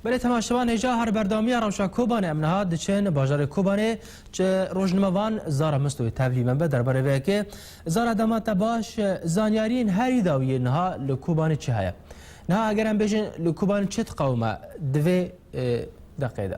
Belê temaşevan hêja her berdawamiya rewşa Kobanê em niha diçin bajarê Kobanê çi rojnimevan Zara Mistoyê tevlî min be derbarê vê yekê Zara dema te baş zanyariyên herî dawiyê niha li Kobanê çi heye niha eger em bêjin li Kobanê çi diqewime di vê deqê de.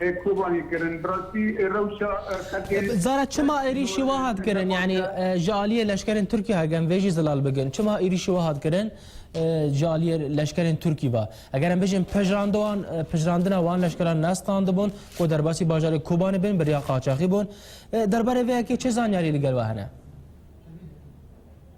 Ê Kobanî kirin. Bi rastî ê rewşa xelkê. Zara çima êrîşî wa hat kirin? Yanî ji aliyê leşkerên Tirkî ha gem vê jî zilal bikin. Çima êrîşî wa hat kirin ji aliyê leşkerên Tirkî va? Eger em bijîn pejrand wan pejrandina wan leşkeran nestandibûn ku derbasî bajarê Kobanî bin beriya qaçaxî bûn. Derbarê vê yekê çi zanyarî li gel we hene?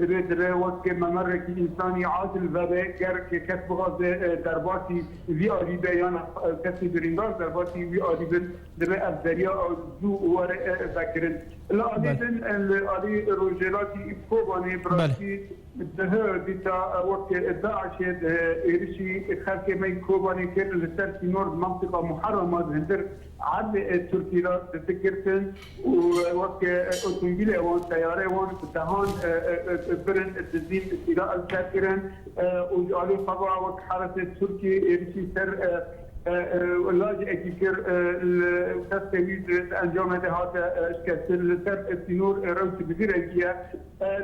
Divê divê wekî memerekî însanî adil vebe, ger kes bixwaze derbasî vî alî be yan kesên birîndar derbasî wî alî bin divê ev derya zû were vekirin. Li alî din li alî rojhelatî Kobanê bi rastî dih dîta wek DAIŞ'ê di êrişî xelkê me yî Kobanê kir li ser sînor di mentiqa Muherrama di hundir erdê Tirkî ra di digirtin. Û wek otomobîlê wan, teyareyê wan ji dehan birin dizîn Îsraîl ser kirin û ji aliyê xwe ve wek heresê Tirkî êrişî ser lajê Ekî kir li destê wî di encamê de hate şikestin. Li ser sînor rewşê bi vî rengî ye.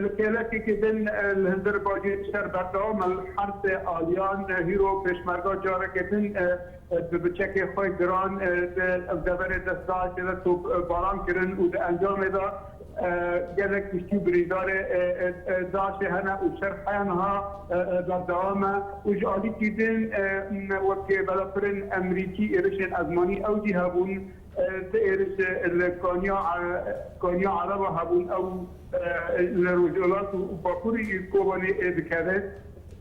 Li kêlekekê din li hundir bajêr şer berdewam e. Li hersê aliyan hîro pêşmerga careke din Bi biçekê xwe giran di ev deverê de saetê de topbaran kirin û di encamê de gelek kuştî û birîndarê DAIŞ'ê hene û şer heya niha berdewam e û ji alî kîrdên wek belafirên Emerîkî êrişên ezmanî ew jî hebûn. Ti êriş li Kaniya Ereba hebûn ew li Rojhilat û Bakurî Kobanê dikeve.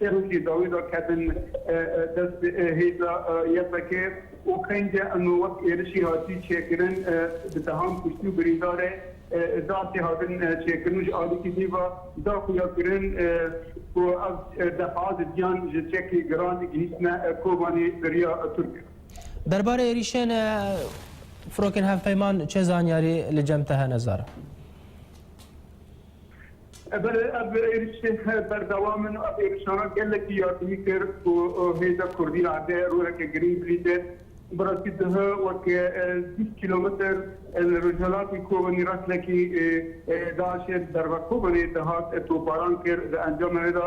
Serokê dawî da ketin dest hêza YPG û qênce em wek êrişî hatî çêkirin bi dehan kuştî û birîndar e. Dehasê hatin çêkirin û ji alîkî dîva da xuya kirin ku ev deha di diyan ji çekê giran gihîştine Kobanê beriya Tirk. Derbarê êrîşên firokên hevpeyman çi zanyarî li cem te hene Zara? Belê ev êrişê berdewam in û ev êrişana gelekî yardimî kir ku hêza kurdî erdê roleke girîng bilîze. Bi rastî dihe wek bîst kîlometer li rojhilatê Kobanê reslekî DAIŞ'ê li derve Kobanê dihat topbaran kir. Di encamê wê de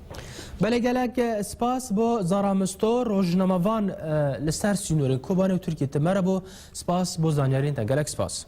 Belê gelek spas bo Zara Misto rojnamevan li ser sînorên Kobanê û Tirkiyê te merebo spas bo zanyariyên te gelek spas.